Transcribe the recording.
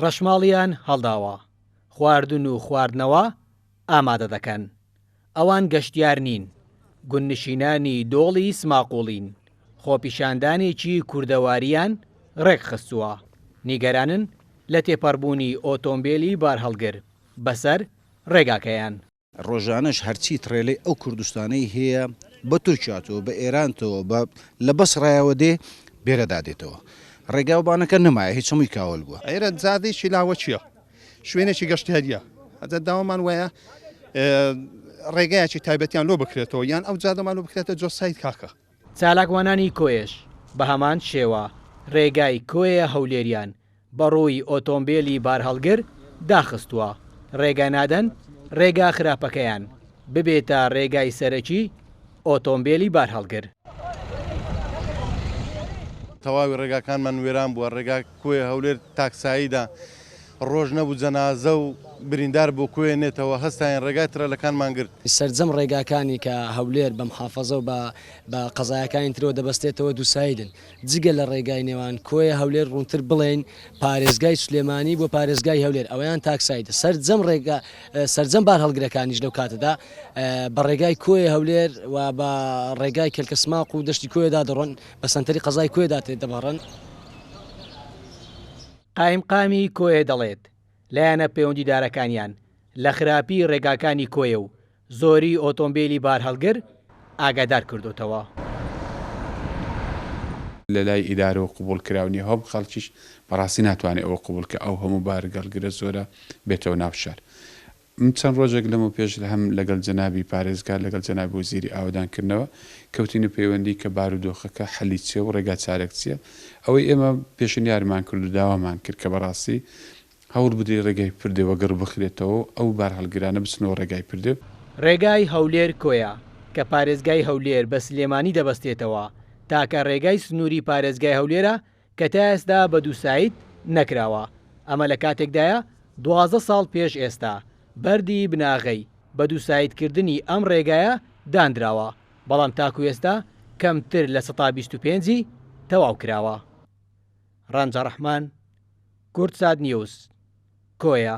ڕەشماڵیان هەڵداوە خواردن و خواردنەوە ئامادە دەکەن، ئەوان گەشتیار نین، گوندنشینانی دۆڵی سماقوڵین، خۆپیشاندانێکی کوردەوارییان ڕێکخستووە، نیگەرانن لە تێپەڕبوونی ئۆتۆمبێلی بارهەڵگر بەسەر ڕێگاکەیان. ڕۆژانەش هەرچی تڕێلەی ئەو کوردستانەی هەیە بە تورکیاتەوە بە ئێرانتەوە بە لە بەسڕایەوە دێ بێرەدا دێتەوە ڕێگاو بانەکە نەمایە هیچ هەمووی کاول بووە. ئێرە زادێکی لاوەکیە شوێنێکی گەشتیاریە ئەجا داوامان وایە ڕێگایەکی تایبەتیان لۆ بکرێتەوە یان ئەو جادەمان لۆ بکرێتە جۆ سایت کاکە. چالاکوانانی کۆیەش بە هەمان شێوە ڕێگای کۆیە هەولێریان بەڕووی ئۆتۆمبێلی بارهەڵگر داخستووە، رێگە نادەن رێگا خراپەکەیان ببێتە رێگای سەرەکی ئۆتۆمبێلی بارهەڵگر. تەواوی رێگاکانمان وێران بووە، رێگا کۆیە هەولێر تاک ساییدە، رۆژ نەبوو جەنازە و بریندار بۆ کۆیە نێتەوە، هەستاین رێگای ترەلەکانمان گرت. سەرجەم رێگاکانی کە هەولێر بە محافەزە و بە قەزایەکانی ترەوە دەبەستێتەوە دووساییدن، جگە لە ڕێگای نێوان کۆیە هەولێر ڕوونتر بڵێین پارێزگای سلێمانی بۆ پارێزگای هەولێر ئەوەیان تاکسایدە سەرجەم ڕێگا سەرجەم بارهەڵگرەکانیش لەو کاتەدا بە ڕێگای کۆیە هەولێر و بە ڕێگای کەلکەسماق و دەشتی کۆیەدا دەڕۆن بە سنتەری قەزای کۆێدا تێ دەبڕن. قائیمقامی کۆیە دەڵێت، لایەنە پەیوەندیدارەکانیان لە خراپی ڕێگاکانی کۆیە و زۆری ئۆتۆمبێلی بارهەڵگر ئاگادار کردۆتەوە. لەلای ئیدارەوە قبوڵ کراو نیە هۆب خەڵکیش بەڕاستی ناتوانێ ئەوە قبوڵ کە ئەو هەموو بارگەڵگرە زۆرە بێتەوە ناو شار من چەند ڕۆژێک لەمەو پێش هەم لەگەڵ جەنابی پارێزگار لەگەڵ جەنابی وەزیری ئاوەدان کردنەوە کەوتینە پەیوەندی کە بارو دۆخەکە حەلی چیە و ڕێگا چارەک چیە ئەوەی ئێمە پێشنیارمان کرد و داوامان کرد کە بەڕاستی هەوڵ بدرێ ڕێگای پردێ وەگڕ بخرێتەوە و ئەو بارهەڵگرانە بچنەوە ڕێگای پردێ. ڕێگای هەولێر کۆیە، کە پارێزگای هەولێر بە سلێمانی دەبەستێتەوە، تاکە ڕێگای سنووری پارێزگای هەولێرە کە تا ئێستا بە دوو ساید نەکراوە، ئەمە لە کاتێکدایە دوازدە ساڵ پێش ئێستا بەردی بناغەی بە دوو ساید کردنی ئەم ڕێگایە دانراوە، بەڵام تاکو ئێستا کەمتر لە سەتا بیست و پێنج ی تەواو کراوە. ڕانجە ڕەحمان، کوردساتنیوز، کۆیە.